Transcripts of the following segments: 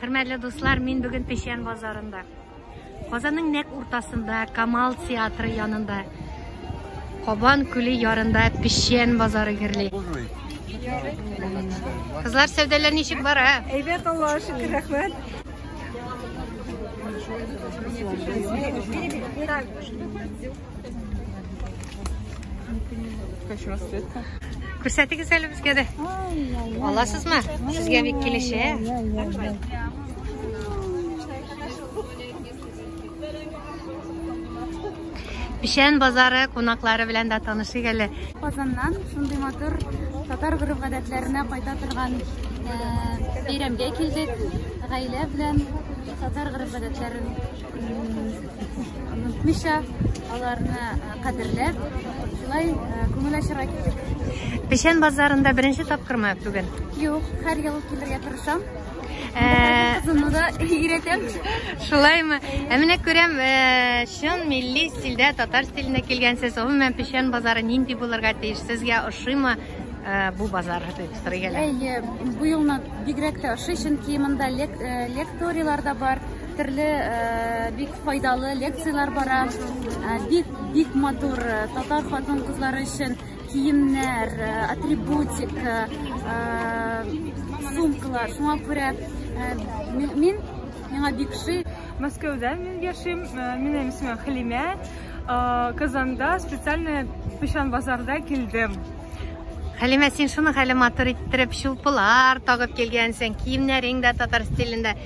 Хөрмәтле дуслар, мин бүген Печән базарында. Казанның нәк уртасында, Камал театры янында. Кабан күле ярында Печән базары гөрли. Кызлар, сәүдәләр ничек бара? Әйбәт, Аллаһ шөкер, рәхмәт. Күрсәтегез әле безгә дә. Аласызмы? Сезгә бик килешә. Пишән базары кунаклары белән дә танышыйк әле. Казаннан шундый матур татар гореф гадәтләренә кайта торган бәйрәмгә килдек. Гаилә белән татар гореф гадәтләрен Онытмыйча, аларны кадерләп, шулай күңел ачырга килдек. Печән базарында беренче тапкырмы бүген? Юк, һәр ел килергә тырышам. Кызымны да өйрәтәм. Шулаймы? Ә менә күрәм, чын милли стильдә, татар стилендә килгәнсез. Гомумән, печән базары нинди булырга тиеш? Сезгә ошыймы? Э, бу базар хәтер генә. Әйе, бу елны бигрәк тә ошый, чөнки монда э, лекторияләр дә бар. Төрле бик файдалы лекцияләр бара. Бик бик матур татар хатын-кызлары өчен киемнәр, атрибутик, сумкалар. Шуңа күрә мин миңа бик ши. Мәскәүдә мин яшим. Минем исемем Хәлимә. Казанда специально Печан базарда килдем. Хәлимә, син шуны хәле матур иттереп, чулпылар тагып килгәнсең, киемнәрең дә татар стилендә.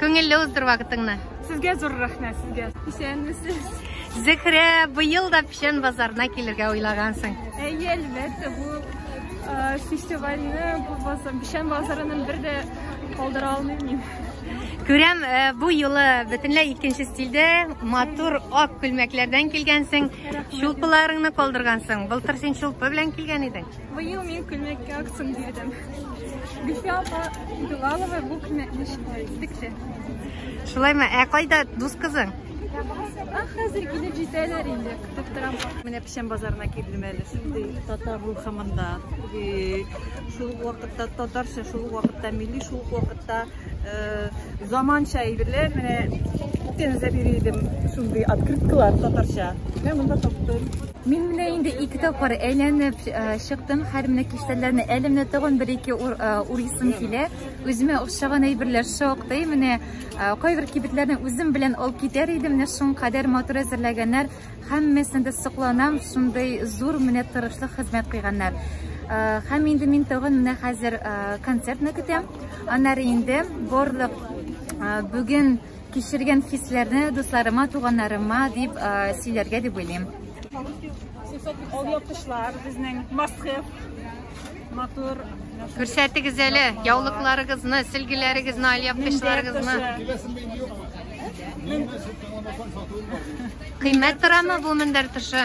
Күңелле уздыр вакытыңны. Сезгә зур рәхмәт сезгә. Исәнмесез. Зөһрә, быел да печән базарына килергә уйлагансың. Әйе, әлбәттә, бу э, фестивальне бу базар, печән базарының бер дә калдыра алмыйм мин. Күрәм, э, бу юлы бөтенләй икенче стильдә, матур ак күлмәкләрдән килгәнсең, чулпыларыңны калдыргансың. Былтыр син чулпы белән килгән идең. Быел мин күлмәккә акцент бирдем. Гөлфия апа Билалова бу күлмәкне текте. Шулаймы? Ә кайда дус кызың? Хәзер килеп җитәләр инде, көтеп торам. Менә печән базарына килдем әле. Шундый татар рухымында. Шул вакытта татарча, шул вакытта милли, шул вакытта э, заманча әйберләр. Менә тензә бирдем. Шундый открыткалар татарча. Менә монда таптым. Мин менә инде ике тапкыр әйләнеп чыктым. Хәр менә киштәләрне әлемне тагын бер-ике урыйсым килә. Үземә охшаган әйберләр шактый. Менә кайбер кибетләрне үзем белән алып китәр идем. Менә шуң кадәр матур әзерләгәннәр. Һәммәсен дә сокланам. Шундый зур менә тырышлык хезмәт кыйганнар. Һәм инде мин тагын менә хәзер концертны көтәм. Аннары инде барлык бүген Кичергән хисләрне дусларыма, туганнарыма дип сөйләргә дип уйлыйм. Ул яптышлар безнең Москва матур Күрсәтегез әле яулыкларыгызны, сөлгеләрегезне, алъяпкычларыгызны. Кыйммәт торамы бу мендәр тышы?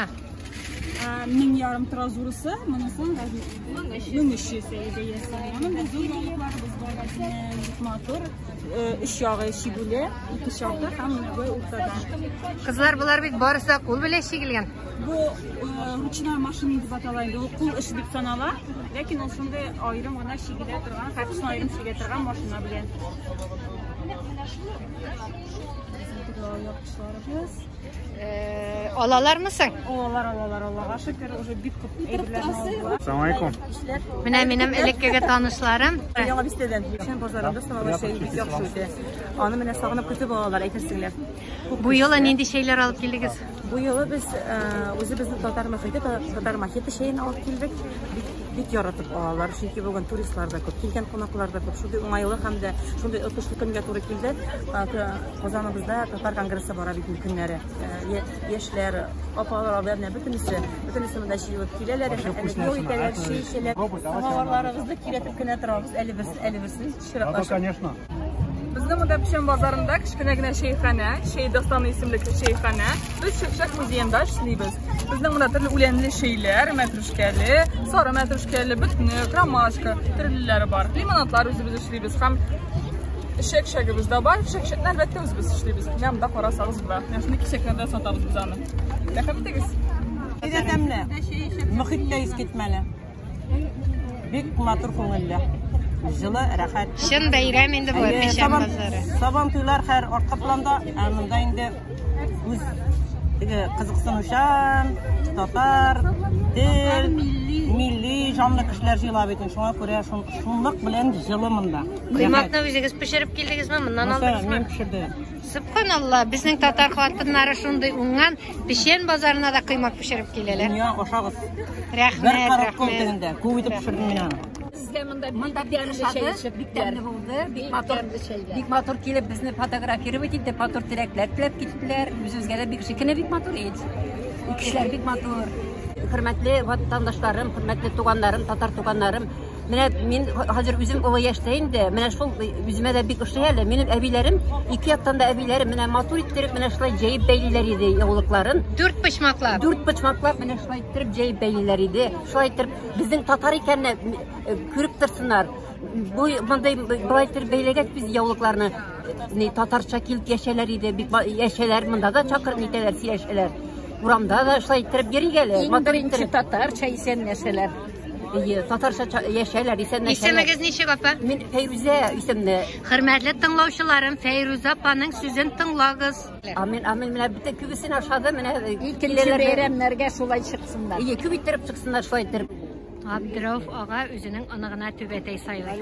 Мең ярым тора зурысы, монысы 1300 бәясе. Аның да зур яулыкларыбыз бар, матур. Өч ягы чигүле, ике чакта һәм бер уртада. Кызлар, болар бит барысы да кул белән чигелгән. Бу ручная машина дип атала инде. Ул кул эше дип санала, ләкин ул шундый аерым гына чигелә торган, хәтсен аерым чигә торган машина белән. Менә шул. Яхшыларыбыз. Алалармы соң? Алалар, алалар, Аллага шөкер, уже бик күп әйберләрне алдылар. Саламалейкум. Менә минем элеккеге танышларым. Яңа бистәдән. Шәм базарында салалар чәй бик яхшы үтә. Аны менә сагынып көтеп алалар, әйтерсеңләр. Бу елы нинди чәйләр алып килдегез? Бу елы без э, үзебезнең татар мохите, татар мохите чәен алып килдек. Бик бик яратып алалар, чөнки бүген туристлар да күп, килгән кунаклар да күп. Шундый уңайлы һәм дә шундый отышлы көнгә туры килде. Казаныбызда татар конгрессы бара бит көннәре. Яшьләр, апалар, абыйлар, бөтенесе, бөтенесе монда җыелып киләләр, әле бу итәләр, чәй эчәләр. Самаварларыбызны киретеп кенә торабыз, әле берсен, әле берсен. Чиратлашып. конечно. Безнең монда Печән базарында кечкенә генә чәйханә, чәй дастаны исемлекле чәйханә. Без Чәкчәк музеенда эшлибез. Безнең монда төрле үләнле чәйләр, мәтрүшкәле, сары мәтрүшкәле, бөтне, ромашка, төрлеләре бар. Лимонадлар үзебез эшлибез һәм чәкчәгебез дә бар. Чәкчәкне әлбәттә үзебез эшлибез. Менә монда карасагыз була. Менә шундый кисәкләрдә сатабыз без аны. Рәхмәт итегез. Әйдә тәмле. Мөхит тә искитмәле. Бик матур күңелле. Җылы, рәхәт. Чын бәйрәм инде бу Печән базары. Сабан туйлар хәр артка планда, ә монда инде үз теге кызыксынучан, татар, тел, милли җанлы кешеләр җыела бит. Шуңа күрә шунлык белән җылы монда. Коймакны үзегез пешереп килдегезме? Моннан алдыгызмы? Мин пешердем. Субханалла, безнең татар хатыннары шундый уңган, печән базарына да кыймак пешереп киләләр. Дөнья ашагыз. Рәхмәт, Бер карап кол тегендә. Күп итеп пешердем мин аны. Сезгә монда монда пешерде, бик тәмле булды. Бик матур, бик матур килеп безне фотографировать итте, матур теләкләр теләп киттеләр. Үзебезгә дә бик шикене бик матур ит. Кешеләр бик матур. Хөрмәтле ватандашларым, хөрмәтле туганнарым, татар туганнарым, Менә мин хәзер үзем олы яшьтә инде. Менә шул үземә дә бик ошый әле. Минем әбиләрем, ике яктан да әбиләрем менә матур иттереп менә шулай җәеп бәйлиләр иде яулыкларын. Дүрт почмаклап. Дүрт почмаклап менә шулай иттереп җәеп бәйлиләр иде. Шулай иттереп безнең татар икәнне э, күреп торсыннар. Бу мондый былай иттереп бәйләгәч без яулыкларны э, ни татарча килеп яшәләр иде. Бик яшәләр монда да чакырып нитәләр, сөйләшәләр. Урамда да шулай иттереп йөрик әле. Иң беренче татарча исәнләшәләр. Әйе, татарча яшәләр, исәнләшәләр. Исемегез ничек, апа? Мин Фәйрүзә исемле. Хөрмәтле тыңлаучыларым, Фәйрүзә апаның сүзен тыңлагыз. Амин, амин. Менә бит күбесен ашады, менә икенче бәйрәмнәргә шулай чыксыннар. Әйе, күп иттереп чыксыннар шулай иттереп. Абдыров ага үзенең оныгына түбәтәй сайлый.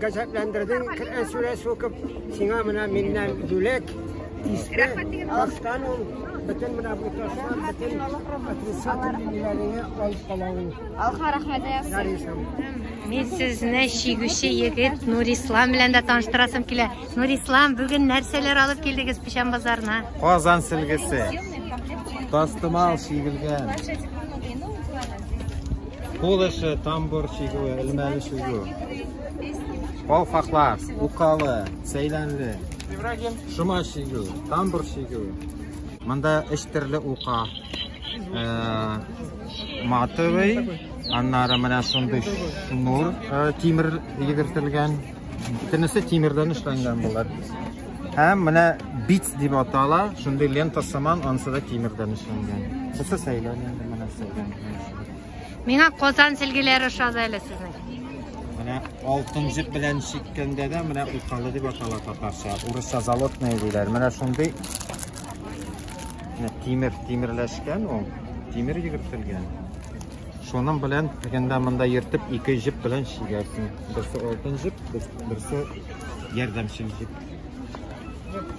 Газапландырдың, Коръән сүрәсе укып, сиңа менә миннән бүләк. Иске тастан ул бөтен менә бу ташлар, бөтен отрицательный ниләреңе алып кала ул. Алха рәхмәт аясың. Мин сезне чигүче егет Нур Ислам белән дә таныштырасым килә. Нур Ислам, бүген нәрсәләр алып килдегез Печән базарына? Казан сөлгесе. Тастымал чигелгән. Кул эше, тамбур чигүе, элмәле чигү. Калфаклар, укалы, сәйләнле. Ибрагим. Шома чигү, тамбур чигү. Монда өч төрле ука. Э, матовый, аннары менә шундый шнур, э, тимер йөгертелгән. Бөтенесе тимердән эшләнгән булар. Һәм менә бит дип атала, шундый лента сыман, ансы да тимердән эшләнгән. Бусы сәйләнле, менә сәйләнле. Миңа Казан силгеләре ошады әле сезнең. Менә алтын җеп белән чиккәндә дә менә укалы дип атала татарча. Урысча залотная диләр. Менә шундый тимер тимерләшкән ул. Тимер йөгертелгән. Шуның белән дигәндә монда йөртеп ике җеп белән чигәсең. Берсе алтын җеп, берсе ярдәмчел җеп.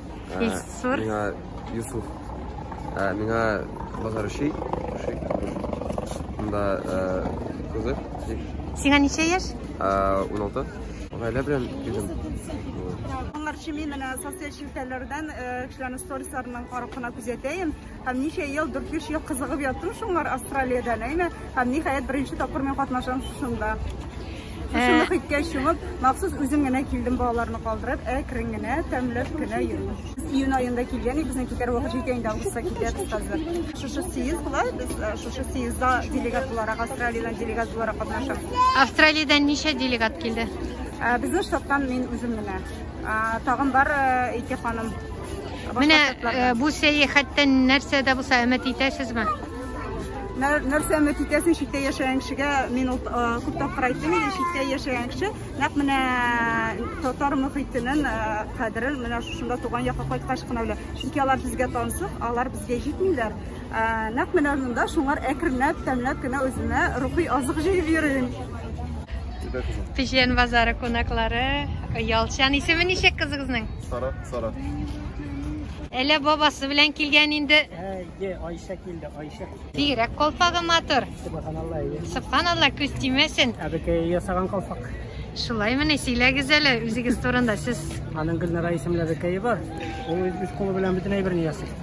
Илсур. Миңа Юсуф. Миңа базар өчи. Мында кызы. Сиңа ничә яшь? 16. Гаилә белән килдем. Алар чими менә социаль челтәрләрдән кешеләрнең сторисларының карап кына күзәтәем. Һәм ничә ел, 4-5 ел кызыгып яттым шуңар Австралиядән, әйме? Һәм ниһаять беренче тапкыр мин катнашам шушында. Шушында э. хиткә чумып, махсус үзем генә килдем балаларны калдырып, әкрен генә, тәмләп кенә йөрдем. Июнь аенда килгән, безнең китәр вакыт җитә инде, августка китәбез хәзер. Шушы съезд була, без э, шушы съездда делегат буларак, Австралиядән делегат буларак катнашам. Австралиядән ничә делегат килде? Э, безнең штаттан мин үзем генә. Тагын бар ике ханым. Менә бу сәяхәттән нәрсә дә булса өмет итәсезме? нәрсә өмет итәсең читтә яшәгән кешегә мин ул күп тапкыр әйттем инде читтә яшәгән кеше нәкъ менә татар мөхитенең кадерен менә шушында туган якка кайткач кына белә чөнки алар безгә тансык алар безгә җитмиләр Ә, нәкъ менә монда шуңар әкренләп, тәмләп кенә үземә рухи азык җыеп йөрим. Печән базары кунаклары Ялчан. Исеме ничек кызыгызның? Сара, Сара. Әле бабасы белән килгән инде. Әйе, Айша килде, Айша. Бигрәк колпагы матур. Субханалла. Субханалла, күз тимәсен. Әбекәй ясаган колпак. Шулай мені сөйләгез әле үзегез турында сез. Аның Гөлнара исемле әбекәе бар. Ул үз кулы белән бөтен әйберне ясый.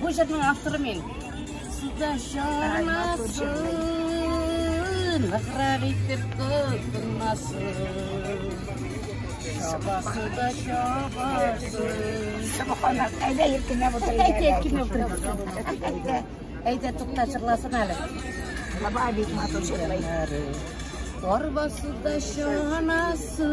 Бу җырның авторы мин. Суда шармасын, ныграк итеп тотынмасын. Шабасы да шабасын. Субханак, әйдә иркенә булдыр. Әйдә иркенә булдыр. Әйдә, әйдә тукта җырласын әле. Баба бит матур җырлый. Арбасы да шанасы.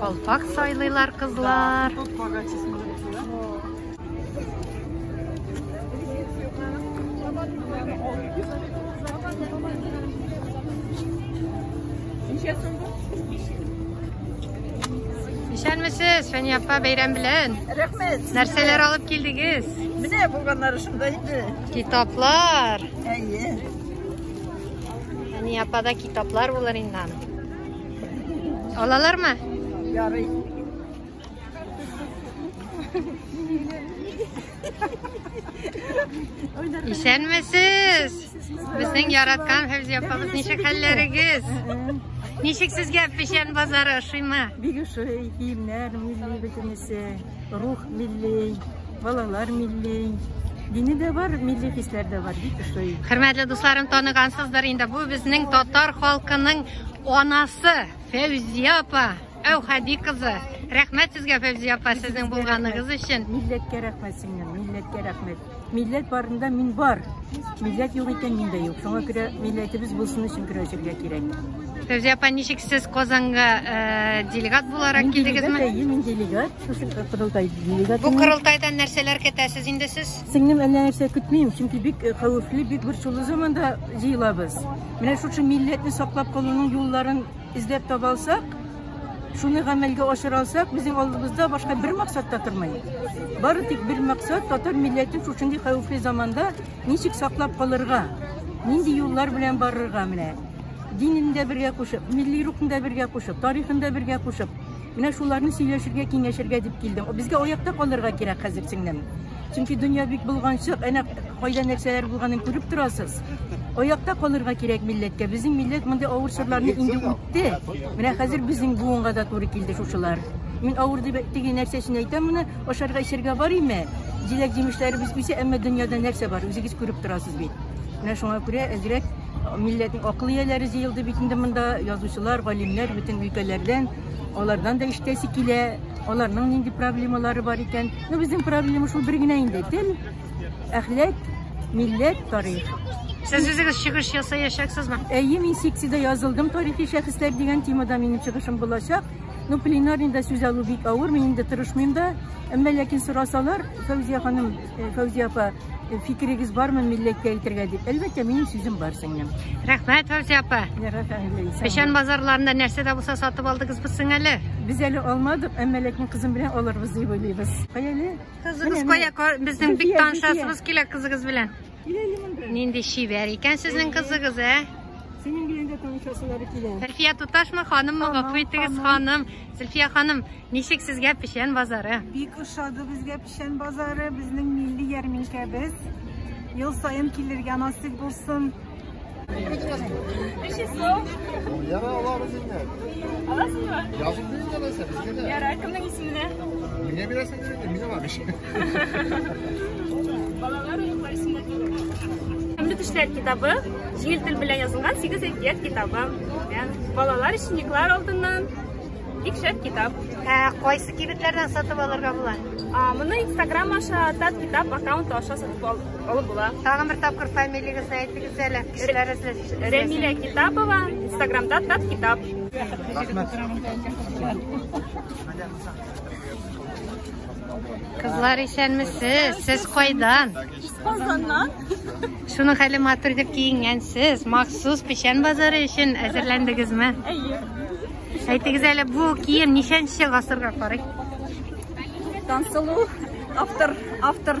Калпак сайлыйлар кызлар. Исәнмесез, Фәния апа, бәйрәм белән. Рәхмәт. Нәрсәләр алып килдегез? Менә булганнары шунда инде. Китаплар. Әйе. Әни апада китаплар булыр инде аны. Алалармы? Ярый. Исәнмесез! Безнең яраткан Фәүзия апабыз ничек хәлләрегез? Ничек сезгә печән базары ошыймы? Бигүши, киемнәр, музей бөтенесе. Рух милли, балалар милли. Дини дә бар, милли хисләр дә бар, бик ошый. Хөрмәтле дусларым, таныгансыздыр инде. Бу безнең татар халкының анасы Фәүзия апа. Әүхәди кызы. Рәхмәт сезгә, Фәүзия апа, сезнең булганыгыз өчен. Милләткә рәхмәт синнән, милләткә рәхмәт. Милләт барында мин бар. Милләт юк икән мин дә юк. Шуңа күрә милләтебез булсын өчен көрәшергә кирәк. Фәүзия апа, ничек сез Казанга э, делегат буларак килдегезме? Әйе, мин делегат. Шушы корылтай делегат. Бу корылтайдан нәрсәләр көтәсез инде сез? Сеңнем әллә нәрсә көтмим, чөнки бик э, хәвефле, бик бер шулы заманда җыелабыз. Менә шушы милләтне саклап калуның юлларын эзләп таба алсак, Шуны гамәлгә ашыра алсак, безнең алдыбызда башка бер максат та тормый. Бары тик бер максат татар милләтен шушындый хәвефле заманда ничек саклап калырга, нинди юллар белән барырга менә. Динен дә бергә кушып, милли рухын да бергә кушып, тарихын да бергә кушып, менә шуларны сөйләшергә, киңәшергә дип килдем. Безгә аякта калырга кирәк хәзер сеңлем. Чөнки дөнья бик булганчык, әнә кайда нәрсәләр булганын күреп торасыз. Аякта калырга кирәк милләткә. Безнең милләт мондый авыр чорларны инде китте. Менә хәзер безнең буынга да туры килде шушылар. Мин авыр дип теге нәрсә өчен әйтәм моны, ашарга эчәргә бар име? Җиләк-җимешләребез үсә, әмма дөньяда нәрсә бар, үзегез күреп торасыз бит. Менә шуңа күрә әзрәк милләтнең акыл ияләре җыелды бит инде монда, язучылар, галимнәр бөтен өлкәләрдән, алардан да ишетәсе килә, аларның нинди проблемалары бар икән. Ну, безнең проблема шул бер генә инде, тел. Әхләк, милләт, тарих. Сез үзегез чыгыш ясаячаксызмы? Әйе, мин секциядә язылдым тарихи шәхесләр дигән темада минем чыгышым булачак. Ну, пленарныйда сүз алу бик авыр, мин инде тырышмыйм да. Әмма ләкин сорасалар, Фәүзия ханым, э, Фәүзия апа, э, фикерегез бармы милләткә әйтергә дип? Әлбәттә, минем сүзем бар сеңлем. Рәхмәт, Фәүзия апа. Печән базарларында нәрсә дә булса сатып алдыгызбыз сеңәле? Без әле алмадык, әмма ләкин кызым белән алырбыз дип уйлыйбыз. Кая әле? Кызыгыз кая? Безнең бик танышасыбыз килә кызыгыз белән. Киләли монда. Нинди шибәр икән сезнең кызыгыз, ә? Синең белән дә танышасылары килә. Зөлфия туташмы, ханыммы? Гафу итегез, ханым. Зөлфия ханым, ничек сезгә Печән базары? Бик ошады безгә Печән базары, безнең милли ярминкәбез. Ел саен килергә насыйп булсын. Яра алабыз инде. Аласызмы? Язып бирсәң аласың, безгә дә. Яра, кемнең исеменә? Миңа бирәсең инде, мин алам ич. Балалар уеннар исемдә түгел. Һәмле төшләр китабы, җиңел тел белән язылган 8 әкият китабы. Балалар өчен Никлар алдыннан бик шәп китап. Ә кайсы кибетләрдән сатып алырга була? Моны Instagram аша, Тат китап аккаунты аша сатып алып Олы була. Тагын бер тапкыр фамилияңызны әйтегез әле. Эшләрегез өчен. Рәмилә Китапова, Инстаграмда Тат Китап. Рәхмәт. Кызлар исәнмесез, сез кайдан? Казаннан. Шуның хәле матур дип киенгәнсез, махсус печән базары өчен әзерләндегезме? Әйе. Әйтегез әле, бу кием ничәнче гасырга карый? Тансылу автор автор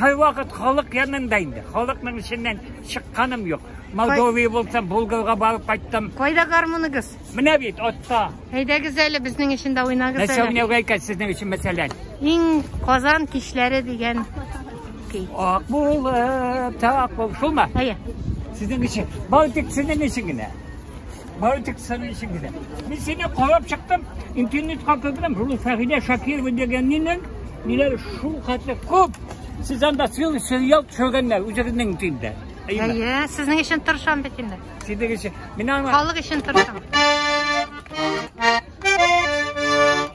Һәрвакыт халык янында инде. Халыкның эченнән чыкканым юк. Молдовия булсам, Булгарга барып кайттым. Кайда гармуныгыз? Менә бит атта. Әйдәгез әле безнең өчен дә уйнагыз әле. Нәрсә уйнауга икән сезнең өчен мәсәлән? Иң Казан кичләре дигән көй. Ак булып, так булып. Шулмы? Әйе. Сезнең өчен. Бары тик сезнең өчен генә. Бары тик сәнәй өчен генә. Мин сине карап чыктым, интернетка кердем, шул Фәгилә Шакирова дигәннең ниләр шул хәтле күп. Сез анда сыйлы сериал төшергәннәр үзегезнең тилдә. Әйе, сезнең өчен тырышам бит инде. Сезнең өчен. Мин аңа халык өчен тырышам.